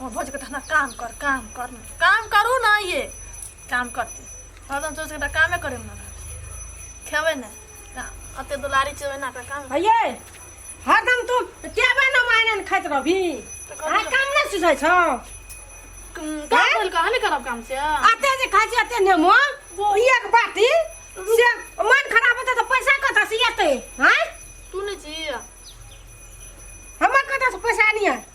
हमर भौजी कहता हमरा काम कर काम कर ना। काम करू ना ये काम करती हरदम सोच के कामे करे ना खेबे ना काम अते दुलारी चेबे ना का काम अये हरदम तू टेबे न मायने खाइत रहबी तऽ कथी आ काम नहि सुझै छौ काम बोल के हने करब काम से अते जे खाइ छी अते नेमो वो- एक बाटी से मन खराब होता तऽ पैसा कतऽ से एतै हैं तू नहीं जी हमर कतऽ से पैसा आनिए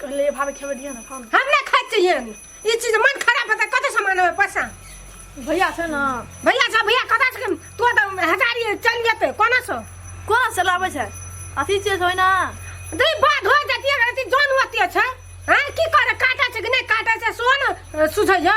कहले भाभी खेबे दिया ना खाओ ना हम ना खाइ छियै ई चीज मन खराब होता कतऽ से मानबै पैसा भैया छै ना भैया सब भैया कतऽ से तू तऽ हजारी चल जेतै कोना से कोना से लाबै छै अथी चीज होइ ना दे बात हो जतिया रहती जान होती छै हैं की करे काटा छै कि नहीं काटा छै सोन सुझै जा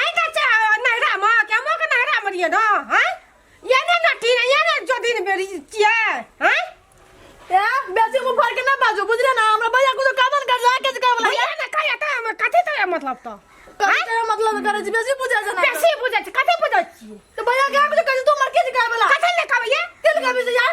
आइ का चा नहरा म के मो के नहरा म रिए न हैं ये ने नटी ने ये ने जो दिन बेरी चिए हैं ए बेसी मुंह फाड़ के ना बाजो बुझले ना हमरा भैया कुछ कामन कर जा के कर बोला भैया ने कहे त हम कथि त मतलब त कहे के मतलब करे छी बेसी बुझा जना बेसी बुझै छी कथि बुझै छी तो भैया के कुछ कर तू मर के कर बोला कथि ने कहबे ये तिल का भी यार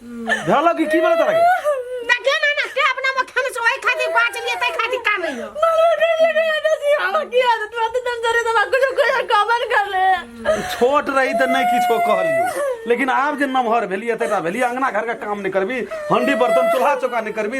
भेलो कि की भेलो तोरा के? देखे ना ना ते अपना में खाने से ओए खातिर बाज लिए ते खातिर का नहीं हो छोट रही त नहीं किछो कहलियो लेकिन आब जे नमहर भेलिए तेरा भेलिए अंगना घर का काम नहीं करबी हंडी बर्तन चूल्हा चौका नहीं करबी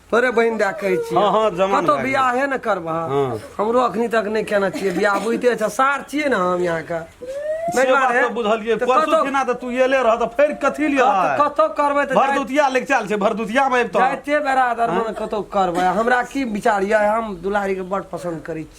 तोरे बहन दए कहै छी हँ, हँ, जमान कतौ भए गेल। बियाहे ने करबह हँ। हमरो अखनी तक नहि केना छियै बियाह बुझते छ सार छियै ने हम यहाँ के से बात तऽ बुझलियै परसू दिना तऽ तू एले रह तऽ फेर कथी लिए आय? कतौ करबै तऽ जाइत- भरदुतिया लेके चल छै भरदुतिया में अबितौ जाइते बेरा दरमन कतौ करबै हमरा की विचार यऽ हम दुलारी के बड़ पसंद करै छी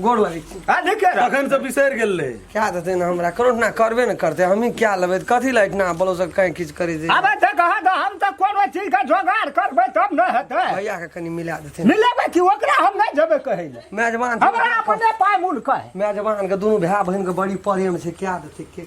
गोड़ लगे छी आ देखे अखन से बिसर गेल रहे क्या देते ना हमरा करो ना करबे ना करते हमी क्या लेबे कथी लाइट ना बोलो सब कहीं किछ करी दे अब त कहा तो हम त कोनो चीज का जोगाड़ करबे तब न हेतै भैया के कनी मिला देते मिलेबे कि ओकरा हम नहीं जेबे कहै ले मेजबान हमरा अपने पाय मूल कहे मेजबान के दोनों भाई बहन के बड़ी प्रेम छै क्या देते के